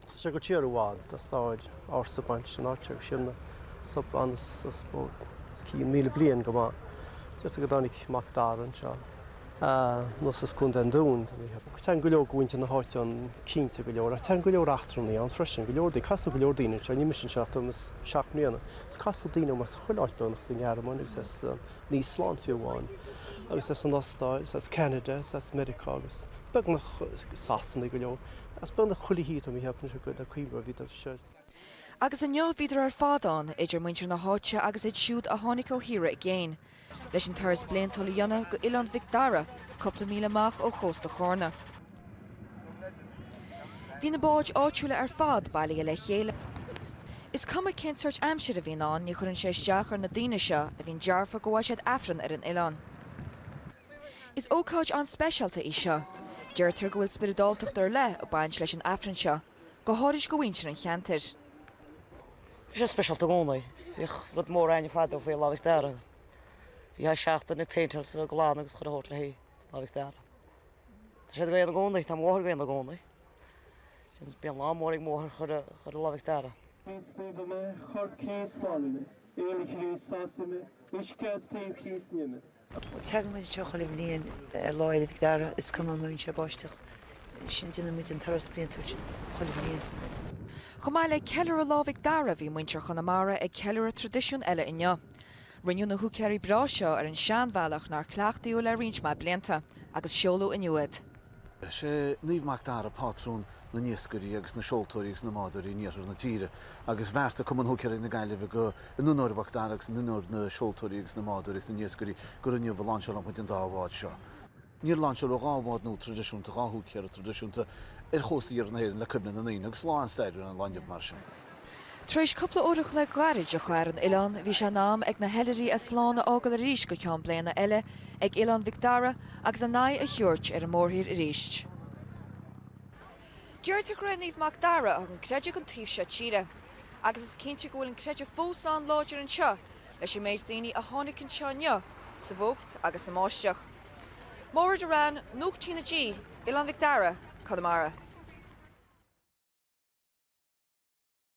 Tá sé go díreach i bhfad, tá stair ársa bainteach leis an áit agus síol na sopán os cionn míle bliain go maith. Deirtear go dtáinig Mac Dara anseo anuas as Contae an Dúin. Téann go leor de mhuintir na háite ann cinnte, go leor, ach téann go leor eachtrannaigh ann freisin, go leor daoine, casadh go leor daoine anseo, tá mise anseo le seacht mbliana, agus casadh daoine ó chuile áit Beirneach as an nGearmáin agus as an. Nua-Shéalainn fiú amháin agus as an Austáil is as Ceanada is as Meiriceá agus bíonn na Sasanaigh go leor as beagnach chuile thír tá mé ag ceapadh anois gur cuma bhíodar seo Agus inniu bhíodar ar fad ann idir muintir na háite agus iad siúd a tháinig ó thíortha i gcéin leis an turas bliantúil a dhéanamh go Oileán Mhic Dara cúpla míle amach ó chósta Chárna. Bhí na báid áitiúla ar fad bailithe le chéile. Is cuma cén sórt aimsir a bhíonn ann ní chuireann sé isteach ar na daoine seo a bhíonn dearfa go bhfaigh siad Aifreann ar an oileán. Is ócáid an-speisialta í seo. Deirtear go bhfuil spioradáltacht ar leith ag baint leis an Aifreann seo, go háirid do mhuintir an cheantair. Bhí sé speisialta i gcónaí. Bhíodh rud mór againn fadó faoi Lá Mhic Dara. Bhítheá seachtain ag péinteáil is ag glanadh agus ag cur a bhfáil faoi réir le haghaidh Lá Mhic Dara. Tá siad ag dul ann i gcónaí. Tá mótar ag dul ann i gcónaí. Bíonn lá mór ag mótair chuile lá Mhic Dara. Chríost naomhaigh mé, Chorp Chríost slánaigh mé, Fhuil Chríost sásaigh mé, Uisce ó thaobh Chríost nigh mé. Tagann muid anseo chuile bhliain ar Lá Fhéile Mhic Dara, is cuma an mbíonn sé ag báisteach, déanann muid an turas bliantúil sin chuile bhliain. Chomh maith le ceiliúradh Lá Mhic Dara, bhí muintir Chonamara ag ceiliúradh traidisiún eile inniu. Rinneadh na húicéirí breátha seo ar an seanbhealach nár cleachtaíodh le roinnt mhaith blianta agus seoladh inniu iad. Is é Naomh Mac Dara pátrún na n-iascairí agus na seoltóirí agus na mbádóirí in iarthar na tíre agus bheartaigh Cumann Húicéirí na Gaillimhe go, in onóir Mhac Dara agus in onóir na seoltóirí agus na mbádóirí agus na n-iascairí, gur inniu a láinseálfadh muid an dá bhád seo. Níor láinseáladh dhá bhád nua traidisiúnta, dhá húicéara traidisiúnta ar chósta iarthar na hÉireann le cuimhne na ndaoine, agus lá an-stairiúil ar an lá inniu mar sin. Tar éis cúpla uair an chloig ghairid a chaitheamh ar an oileán, bhí sé in am ag na hoilithrigh slán a fhágáil arís go ceann bliana eile ag Oileán Mhic Dara agus a n-aghaidh a thabhairt ar an mórthír arís. Deirtear gur é Naomh Mac Dara a thug an creideamh don taobh seo tíre. Agus is cinnte go bhfuil an creideamh fós an-láidir anseo leis an méid daoine a tháinig anseo inniu sa bhfuacht agus sa mbáisteach. Máire T. Ní Mhadaoin, Nuacht TnaG, Oileán Mhic Dara, Conamara.